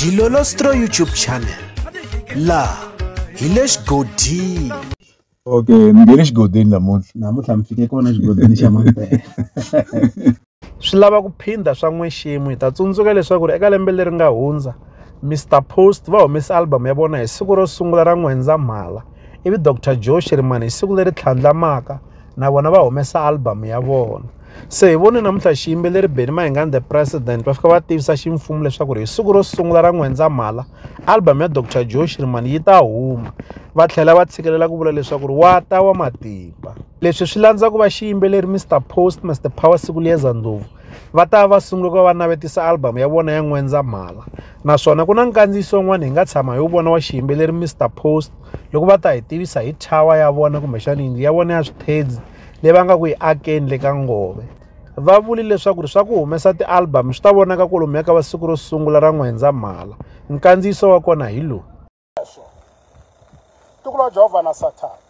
dilolostro youtube channel laha hi le xigodini okay ni nge le xigodini namuntlha namuntlha mi fike kona xigodini xa mampela swi lava ku phinda swa n'weximo hi ta tsundzuka leswaku ri eka lembe leri nga hundza mr post va humese album ya vona hi siku ro sungula ra n'wendzamhala ivi dr joe shirimani hi siku leri tlhandlamaka na vona va humesa album ya vona Se hi vone namuntlha xiyimbeleri Benny Mayengani the President va fika va tivisa ximfumo leswaku ri hi siku ro sungula ra N'wendzamhala album ya Dr Joe Shirimani yi ta huma va tlhela va tshikelela ku vula leswaku ri wa ta wa matimba leswi swi landza ku va xiyimbeleri Mr Post Mr Power Sikuliyeza Ndlovu va ta va sungula ku va va navetisa album ya vona ya N'wendzamhala naswona ku na nkandziyiso wun'wana hi nga tshama hi wu vona wa xiyimbeleri Mr Post loko va ta hi tivisa hi tower ya vona kumbexana yindlu ya vona ya swithedzi leyi va nga ku yi akeni le ka ngove va vuli leswaku ri swa ku humesa ti-album swi ta vonaka kolomuya ka va siku ro sungula ra n'wendzamhala nkandziyiso wa kona hi lowu tiko ra jehovha na sathana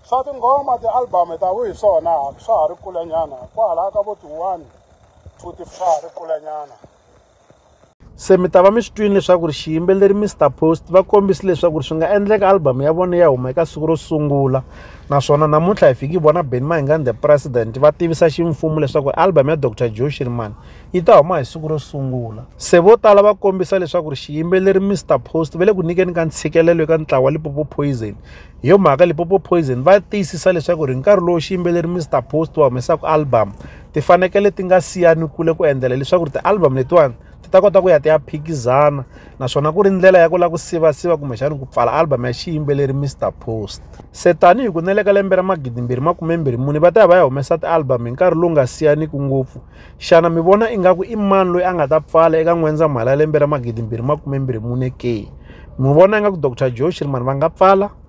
swa tinghoma ti-album ta vu hi swona swa ha ri kulenyana kwalaya ka vo ti-one two ti swa ha ri kulenyana Se mi ta va mi swi twini leswaku ri xiyimbeleri Mr Post va kombisi leswaku ri swi nga endleka album ya vona ya huma eka siku ro sungula naswona namuntlha hi fiki vona Benny Mayengani the president va tivisa ximfumo leswaku album ya Dr Joe Shirimani yi ta huma hi siku ro sungula se vo tala va kombisa leswaku ri xiyimbeleri Mr Post va le ku nyikeni ka ntshikelelo eka ntlawa wa Lipopo Poison hi yo mhaka Lipopo Poison va tiyisisa leswaku ri nkarhi lowu xiyimbeleri Mr Post va humesaka album ti fanekele ti nga siyani kule ku endlela leswaku ti-album letiwani ti ta kota ku ya ti ya phikizana naswona ku ri ndlela ya ku lava ku sivasiva kumbexani ku pfala album ya xiyimbeleri mr post se tanihi ku neleka lembe ra magidimbirhi makumembirhi muni va ta ya va ya humesa ti-album hi nkarhi lowu nga siyaniki ngopfu xana mi vona ingaku i mani loyi a nga ta pfala eka n'wendzamhala ya lembe ra magidimbirhi makumembirhi mune ke mi vona ingaku dr joe shirman va nga pfala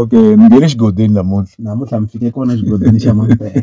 Okay mi nghene xigodini namuntlha namuntlha mi fike kona xigodini xa Mampela.